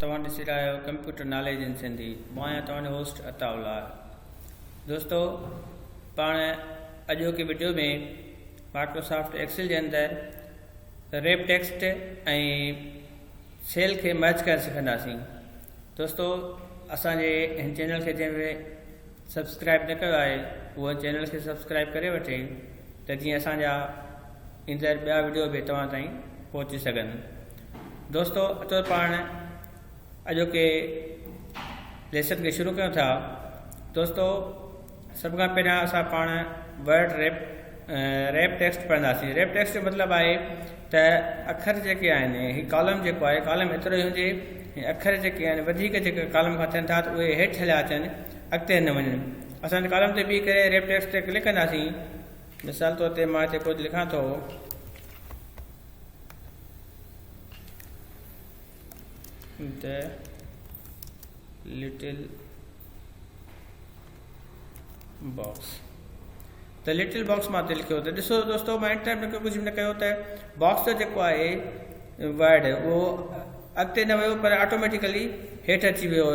توهان ڏسي رهيا آهيو ڪمپيوٽر ناليج ان سنڌي مان آهيان توهان جو هوسٽ عطاء الله دوستو پاڻ اڄوڪي ويڊيو ۾ مائڪروسافٽ ايڪسل جي اندر ريپ ٽيڪسٽ ۽ سيل کي مرچ ڪرڻ سکنداسين دوستو اسان جي هن چينل کي جنهن سبسڪرائب نه ڪيو آهي اهو چينل کي سبسڪرائب ڪري وٺي ته جيئن اسان جا ايندڙ ٻيا وڊيو به توهان تائين پهچي سگهن دوستو اچو پاڻ اڄوڪي ليسن کي شروع ڪيون ٿا دوستو سڀ کان پهريان اسان پاڻ ورڊ ريپ ريپ ٽيڪسٽ پڙهنداسين. ريپ ٽيڪسٽ جو مطلب آهي ته اکر جيڪي آهن هي ڪالم جيڪو آهي ڪالم ايترو ئي هجي ۽ اکر جيڪي آهن وڌيڪ جيڪي ڪالم کان ٿين ٿا ته اهي هيٺ هليا اچن اڳتي نه وڃن اسان هن ڪالم تي بيهي ڪري ريپ ٽيڪسٽ تي ڪلڪ ڪنداسين مثال طور تي مان هتي ڪجهه لکان ٿو ته لٽل باڪس ته لٽل باڪس مان دل کيو ته ڏسو دوستو مان انٽر ۾ ڪجهه به نه ڪيو ته باڪس ته جيڪو آهي وائڊ اهو اڳتي نه ويو پر آٽوميٽيڪلي هيٺ اچي ويو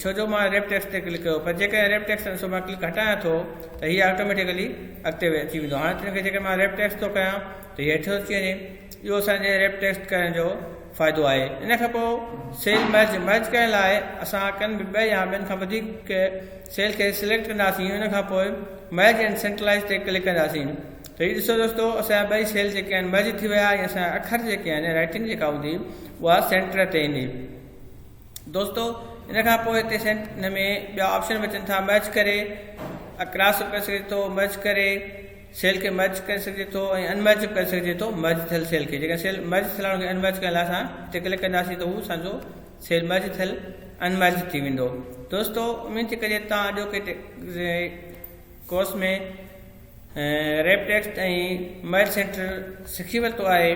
ڇو جو مان ريپ ٽيڪس تي ڪلڪ ڪيو پر جيڪڏهن ريپ ٽيڪس سو مان ڪلڪ هٽايان ٿو ته هي آٽوميٽيڪلي اڳتي اچي ويندو هاڻي تنهن کي جيڪڏهن مان ريپ ٽيڪس ٿو ڪيان ته هيٺ اچي وڃي اهو اسانجي ريپ ٽيڪس ڪرڻ جو فائدو آهي ان کان پوء سيل مرج مرج ڪرڻ لاء اسان ڪن به ٻه يا ٻن کان وڌيڪ سيل کي سليڪٽ ڪنداسين ان کان پوء مرج اينڊ سينٽرلائيز تي ڪلڪ ڪنداسين ته هي ڏسو دوستو اسان جا ٻئي سيل جيڪي آهن مرج ٿي ويا ۽ اسان جا اکر جيڪي آهن رائٽنگ جيڪا هوندي اها سينٽر تي ايندي دوستو ان کان پوء هتي سينٽ ان ۾ ٻيا آپشن به اچن ٿا مرج ڪري اڪراس ڪري سگهجي ٿو مرج ڪري سيل کي مرج ڪري سگهجي ٿو ۽ ان مرج به ڪري سگهجي ٿو مرج ٿيل سيل کي جيڪڏهن سيل مرج ٿيل آهي ان کي ان مرج ڪرڻ لاء اسان تي ڪلڪ ڪنداسين ته هو اسان جو سيل مرج ٿيل ان مرج ٿي ويندو دوستو اميد ٿي ڪجي توهان اڄوڪي course ۾ wrap text ۽ merge centre سکي ورتو آهي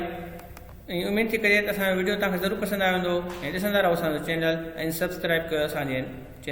۽ اميد ٿي ڪجي ته اسان جو ويڊيو توهان کي ضرور پسند آيو هوندو ۽ ڏسندا رهو اسان جو چينل ۽ سبسڪرائب ڪيو اسان جي